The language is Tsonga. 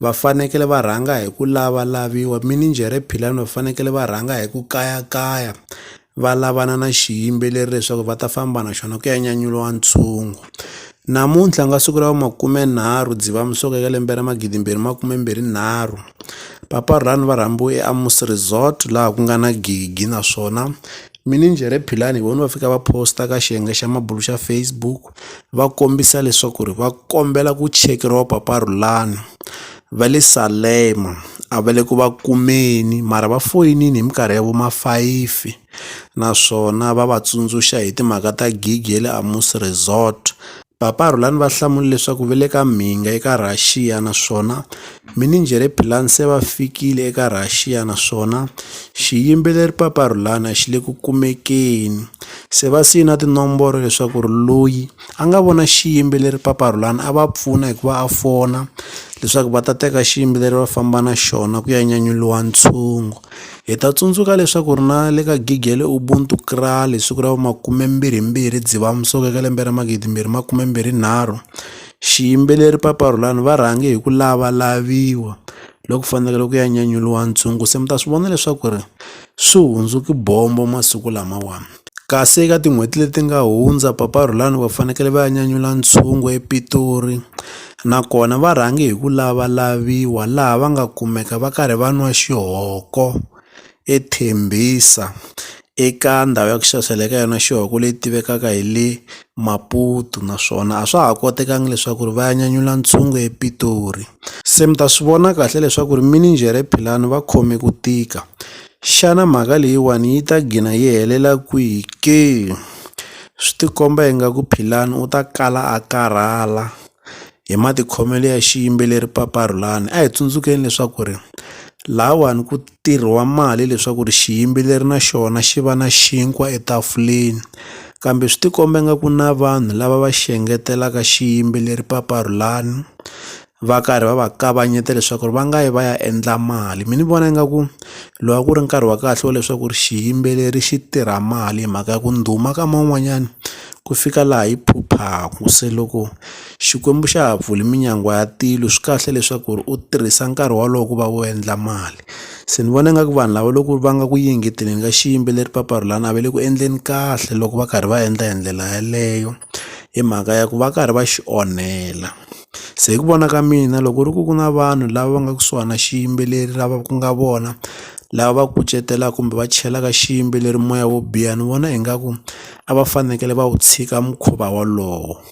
va fanekele va rhanga hi ku lavalaviwa mininjhere philani va fanekele va rhanga hi ku kayakaya va lavana na xiyimbeleri leswaku va ta famba na xona ku ya nyanyuriwa ntshungu namuntlha nga siku ra va makumenharhu dzivamusoko eka lembe ra magidimbirhi makumembirhi nharhu papa rhani va rhambiwe eamus resort laha ku nga na gigi naswona mininjhere philani hi vona va fika va posta ka xiyenge xa mabulo xa Facebook va kombisa leswaku ri va kombela ku chekeriwa paparulani va le Salema a va le ku va kumeni mara va foyinini hi minkarhi ya vo ma fayifi naswona va va tsundzuxa hi timhaka ta gig ya le Amus Resort paparulani va hlamula leswaku va le ka mhinga eka Russia naswona Minijhere Bilan se va fikile eka Rhaxiya naswona xiyimbeleri Papa Rhulana xi le ku kumekeni. Se va siye na tinomboro leswaku ri loyi a nga vona xiyimbeleri Papa Rhulana a va pfuna hi ku va a fona leswaku va ta teka xiyimbeleri va famba na xona ku ya nyanyuriwa ntshungu. Hi ta tsundzuka leswaku ri na le ka gig ya le Ubuntu Kraal hi siku ra vu makume mbirhi mbirhi Dzivamisoko eka lembe ra magidi mbirhi makume mbirhi nharhu Xiyimbeleri Papa Rhulani va rhange hi ku lavalaviwa loku fanekele ku ya nyanyuriwa ntshungu se mi ta swi vona leswaku ri swi hundzuke bombo masiku lamawani kasi eka tin'hweti leti nga hundza Papa Rhulani va fanekele va ya nyanyula ntshungu ePitori nakona va rhange hi ku lavalaviwa laha va nga kumeka va karhi va nwa xihoko e Tembisa eka ndhawu ya ku xavisela eka yona xihuku leyi tivekaka hi le Maputo naswona a swa ha kotekanga leswaku ri va ya nyanyula ntshungu ePitori se mi ta swi vona kahle leswaku ri mininjhere Philani va khome ku tika xana mhaka leyiwani yi ta gina yi helela kwihi ke swi tikomba ingaku Philani u ta kala a karhala hi matikhomelo ya xiyimbeleri Papa Rhulani a hi tsundzukeni leswaku ri lahawani ku. ntirho wa mali leswaku ri xiyimbeleri na xona xi va na xinkwa etafuleni kambe swi tikomba nga ku na vanhu lava va xi engetelaka xiyimbeleri paparhulani va karhi va va kavanyeta leswaku ri va nga yi va ya endla mali mina ni vona ingaku lowu a ku ri nkarhi wa kahle wa leswaku ri xiyimbeleri xi tirha mali hi mhaka ya ku ndhuma ka man'wanyana ku fika laha yi phuphaku se loko. Xikwembu xa ha pfuli minyangwa ya tilo swi kahle leswaku ri u tirhisa nkarhi wolowo ku va u endla mali se ni vona nga ku vanhu lava loko va nga ku yingeteni ka xiyimbeleri papa ro lani a va le ku endleni kahle loko va karhi va endla hi ndlela yaleyo hi mhaka ya ku va karhi va xi onhela se hi ku vona ka mina loko ku ri ku ku na vanhu lava va nga kusuhani na xiyimbeleri lava ku nga vona lava va kucetelaka kumbe va chelaka xiyimbeleri moya wo biha ni vona ingaku a va fanekele va wu tshika mukhuva wolowo.